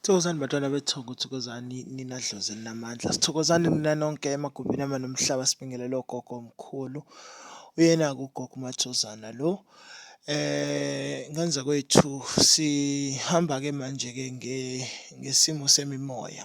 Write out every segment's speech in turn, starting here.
Thokozani bantwana bethongo, thokozani nina dlozi elinamandla. Sithokozani nina nonke emagumbini ama nomhlaba sibingelele ogogo omkhulu. Uyena-ke ugogo uMathozana lo. Eh ngenza kwethu sihamba-ke manje-ke ngesimo semimoya.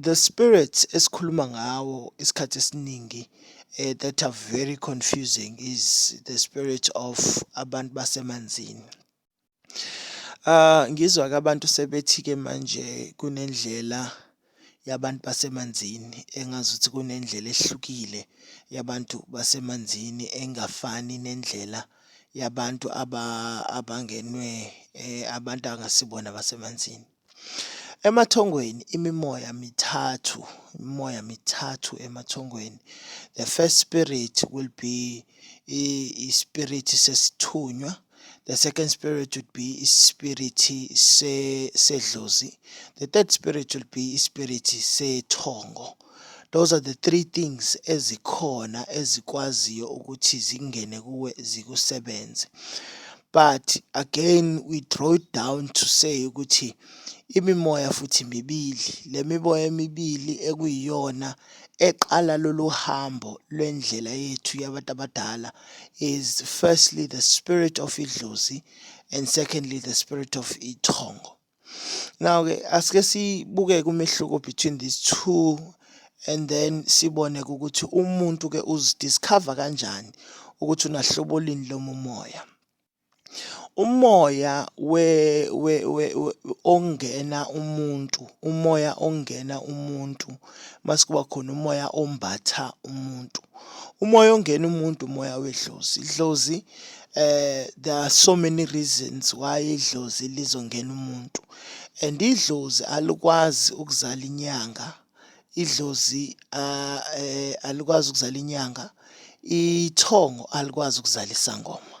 the spirits esikhuluma ngawo isikhathi esiningi eh, that are very confusing is the spirit of abantu basemanzini uh, ngizwa ke abantu sebethi ke manje kunendlela yabantu basemanzini engazi ukuthi kunendlela ehlukile yabantu basemanzini engafani nendlela yabantu aba abangenwe eh, abantu angasibona basemanzini Emathongweni imimoya mithathu, imimoya mithathu emathongweni. The first spirit will be ispirit sesithunywa. The second spirit would be ispirit sedlozi. The third spirit will be ispirit sethongo. Se Those are the three things ezikhona ezikwaziyo ukuthi zingene kuwe zikusebenze. But again we draw it down to say ukuthi imimoya futhi mibili le miboya emibili ekuyiyona eqala lolu hambo lwendlela yethu yabantu abadala is firstly the spirit of idlozi and secondly the spirit of ithongo Now-ke asike sibuke umehluko between these two and then sibone ukuthi umuntu ke uzidiscover kanjani ukuthi unahlobo lini lomumoya umoya we, we, we, we ongena umuntu umoya ongena umuntu mase kuba khona umoya ombatha umuntu umoya ongena umuntu umoya wedlozi idlozi eh there are so many reasons why idlozi lizongena umuntu and idlozi alikwazi ukuzala inyanga idlozi ah, eh, alikwazi ukuzala inyanga ithongo alikwazi ukuzala isangoma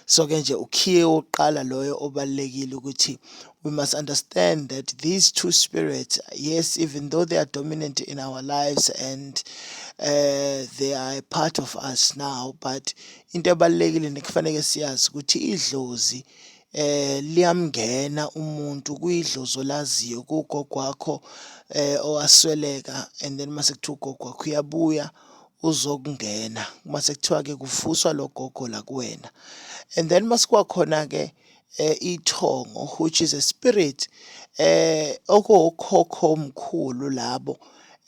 so ke nje ukhiye wokuqala loyo obalekile ukuthi we must understand that these two spirits yes even though they are dominant in our lives and uh, they are a part of us now but into ebalekile nekufanele siyazi ukuthi idlozi eh liyamngena umuntu kuyidlozo laziyo kugogo wakho eh owasweleka and then mase kuthiwa ugogo wakho uyabuya uzokungena uma sekuthiwa-ke kufuswa lo gogo la kuwena and then uma sikuwa khona-ke eh, ithongo which is a spirit eh okokhokho omkhulu labo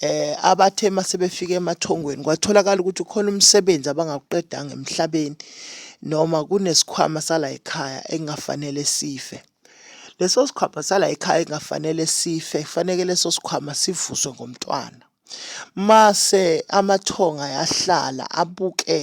eh abathe masebefika emathongweni kwatholakala ukuthi ukhona umsebenzi abangawuqedanga emhlabeni noma kunesikhwama sala ekhaya engafanele sife leso sikhwama sala ekhaya engafanele sife kufanele leso sikhwama sivuswe ngomntwana Mase amathonga yahlala abuke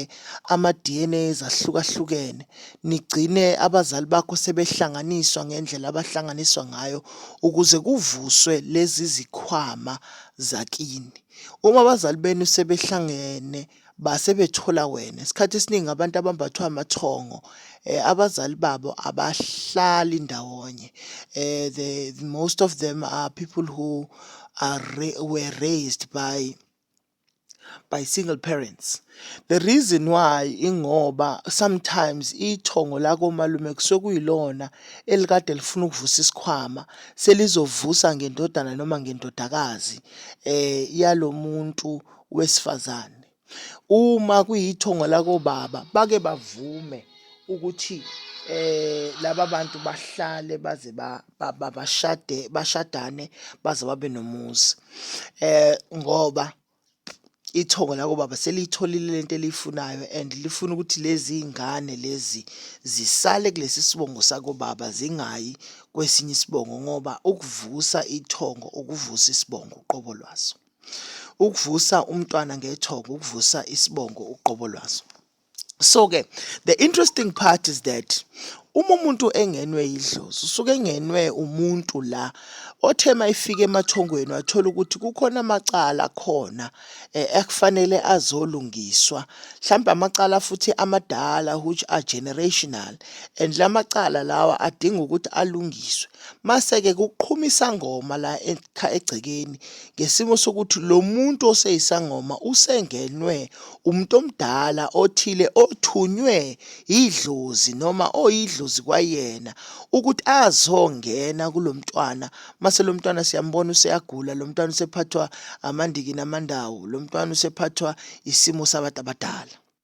ama-DNA ezahlukahlukene, nigcine abazali bakho sebehlanganiswa ngendlela abahlanganiswa ngayo ukuze kuvuswe lezi zikhwama zakini. Uma abazali benu sebehlangene. base bethola wena isikhathi esiningi abantu abambathwa amathongo eh, abazali babo abahlali ndawonye eh, the, the most of them are people who are ra were raised by by single parents the reason why ingoba sometimes ithongo lako malume kusuke kuyilona elikade lifuna ukuvusa isikhwama selizovusa ngendodana noma ngendodakazi eh yalomuntu wesifazane uma kuyithongo lakobaba bake bavume ukuthi eh laba bantu bahlale baze bashade bashadane baze babe nomuzi eh ngoba ithongo lako baba seliyitholile lento eliyifunayo and lifuna ukuthi lezi ingane lezi zisale kulesi sibongo sako baba zingayi kwesinye isibongo ngoba ukuvusa ithongo ukuvusa isibongo uqobo lwaso ukuvusa umntwana ngethongo ukuvusa isibongo uqobo lwaso so ke the interesting part is that uma umuntu engenwe yidlozi usuke engenwe umuntu la othe mayifika emathongweni wathola ukuthi kukhona amacala khona eh, ekufanele azolungiswa mhlawumbe amacala futhi amadala which are generational and la macala lawa adinga ukuthi alungiswe mase-ke kuqhuma isangoma la egcekeni ngesimo sokuthi lo muntu oseyisangoma usengenwe umuntu omdala othile othunywe idlozi noma oyidlozi kwayena ukuthi azongena kulo mntwana mase lo mntwana siyambona useyagula lo mntwana usephathwa amandiki namandawo lo mntwana usephathwa isimo sabantu abadala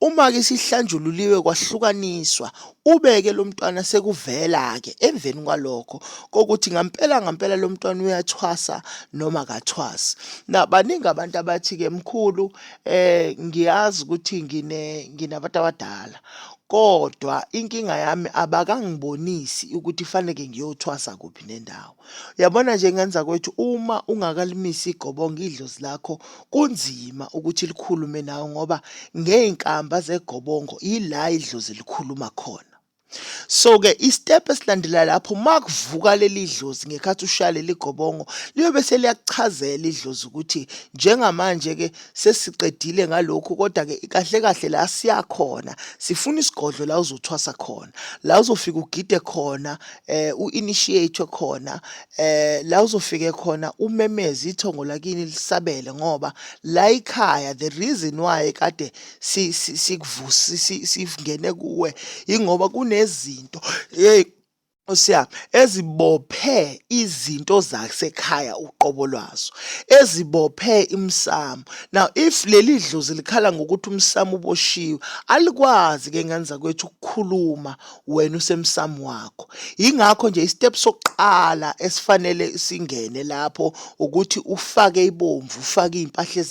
Uma-ke isihlanjululiwe kwahlukaniswa, ube-ke lo mntwana sekuvela-ke emveni kwalokho kokuthi ngampela ngampela lo mntwana uyathwasa noma kathwasi. Na baningi abantu abathi-ke mkhulu eh ngiyazi ukuthi ngine nginabantu abadala kodwa inkinga yami abakangibonisi ukuthi faneke ngiyothwasa kuphi nendawo. Uyabona nje ngenza kwethu uma ungakalimisi igobongo idlozi lakho kunzima ukuthi likhulume nawe ngoba ngey'nkamba zegobongo yila idlozi likhuluma khona. So-ke isitepu esilandela lapho uma kuvuka leli dlozi ngekhathi ushaya leli gobongo liyobe seliyakuchazela idlozi ukuthi njengamanje-ke sesiqedile ngalokhu kodwa-ke kahle kahle la siyakhona sifuna isigodlo la uzothwasa khona la uzofika ugide khona eh u-initiate khona eh la uzofike khona umemeze ithongo lakini lisabele ngoba la ikhaya the reason why kade sikuvusi sivungene kuwe ingoba kunezinto hey Osiyami ezibophe izinto zasekhaya uqobo lwazo ezibophe imsamo now if leli dlozi likhala ngokuthi umsamo uboshiwe alikwazi ke ngenza kwethu ukukhuluma wena usemsamo wakho yingakho nje istep sokuqala esifanele singene lapho ukuthi ufake ibomvu ufake izimpahla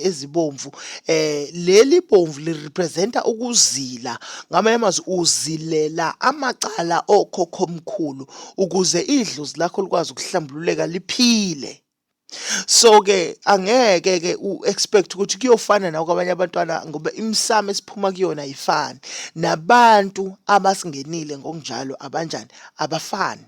ezibomvu eh leli bomvu li representa ukuzila ngamanye amazwi uzilela amacala okhokho omkhulu ukuze idlozi lakho likwazi ukuhlambululeka liphile so ke angeke ke u expect ukuthi kuyofana na kwabanye abantwana ngoba imisamo esiphuma kuyona ayifani nabantu abasingenile ngokunjalo abanjani abafani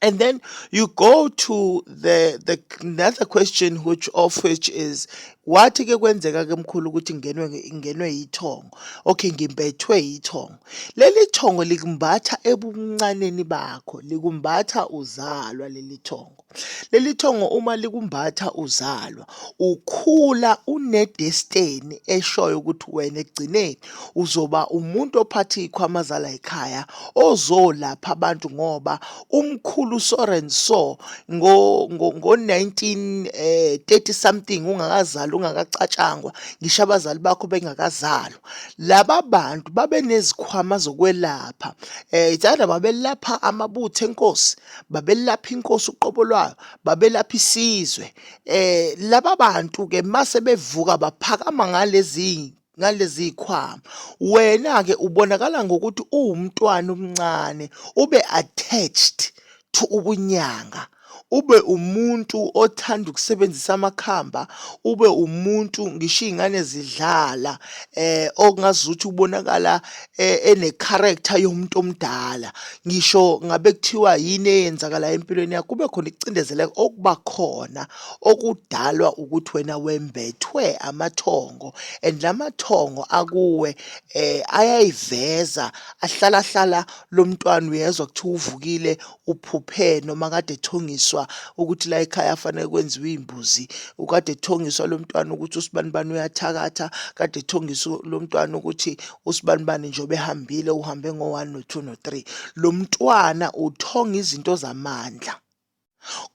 And then you go to the the another question which of which is what ke kwenzeka ke mkhulu ukuthi ngingenwe nge- ngingenwe yithongo. Okay, ngimbethwe yithongo. Leli thongo likumbatha ebuncaneni bakho, likumbatha uzalwa leli thongo. Leli thongo uma likumbatha uzalwa, ukhula unedesteni eshoyo ukuthi wena ekugcineni uzoba umuntu ophatha iy'khwama zala yikhaya ozolapha abantu ngoba umkhulu so and so ngo-1930 eh, something ungakazali ungakacatshangwa ngisho abazali bakho bengakazalwa. Laba bantu babenezikhwama zokwelapha, um eh, it's either babelapha amabutho enkosi babelapha inkosi uqobo lwayo babelapha isizwe eh laba bantu ke mase bevuka baphakama ngalezi ngalezi khwama wena ke ubonakala ngokuthi uwumntwana omncane ube attached to ubunyanga ube umuntu othanda ukusebenzisa amakhamba ube umuntu ngisho iy'ngane zidlala eh okungazuthi ubonakala e-, enecharacter yomuntu omdala ngisho ngabe kuthiwa yini eyenzakalayo empilweni yakho kube khona ikucindezeleka okuba khona okudalwa ukuthi wena wembethwe amathongo and la mathongo akuwe um ayayiveza ahlalahlala lo mntwana uyezwa kuthiwa uvukile uphuphe noma kade ethongiswa ukuthi la ekhaya afanele kwenziwe iy'mbuzi ukade ethongiswa lo mntwana ukuthi usibanibani uyathakatha kade ethongiswa lo mntwana ukuthi usibanibani njengoba ehambile uhambe ngo-one no-two no-three lo mntwana uthonga izinto zamandla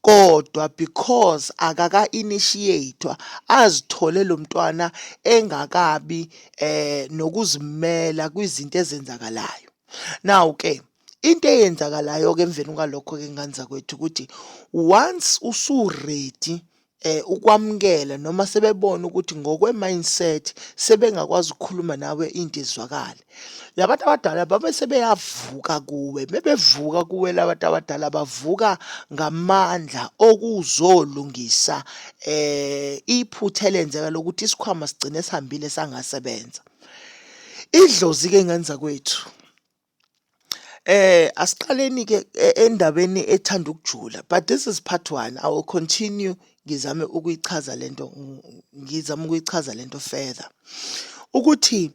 kodwa because akaka-initiator azithole lo mntwana engakabi eh nokuzimela kwizinto ezenzakalayo now-ke Into eyenzakalayo-ke emveni kwalokho-ke ngane zakwethu ukuthi once usu-ready eh ukwamukela noma sebebona ukuthi ngokwe-mindset sebengakwazi ukukhuluma nawe into izwakale labantu abadala babe sebeyavuka kuwe bebevuka kuwe labantu abadala bavuka ngamandla okuzolungisa eh iphutha elenzeka lokuthi isikhwama sigcine sihambile sangasebenza idlozi-ke ngane zakwethu Eh asiqaleni ke e- endabeni ethanda ukujula but this is part one I will continue ngizame ukuyichaza lento ng- ngizame ukuyichaza lento further ukuthi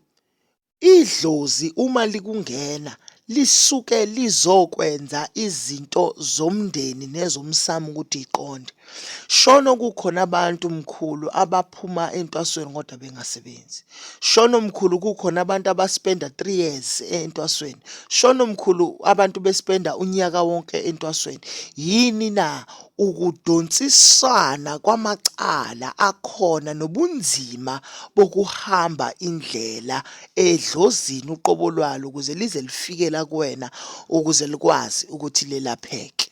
idlozi uma likungena lisuke lizokwenza izinto zomndeni nezomsamo ukuthi iqonde Shono kukhona abantu mkhulu abaphuma entwasweni kodwa bengasebenzi. Shono mkhulu kukhona abantu abaspenda 3 years entwasweni. Shono mkhulu abantu bespenda unyaka wonke entwasweni. Yini na ukudonsisana kwamacala akhona nobunzima bokuhamba indlela edlozini uqobo lwalo ukuze lize lifike la kuwena ukuze likwazi ukuthi lelapheke.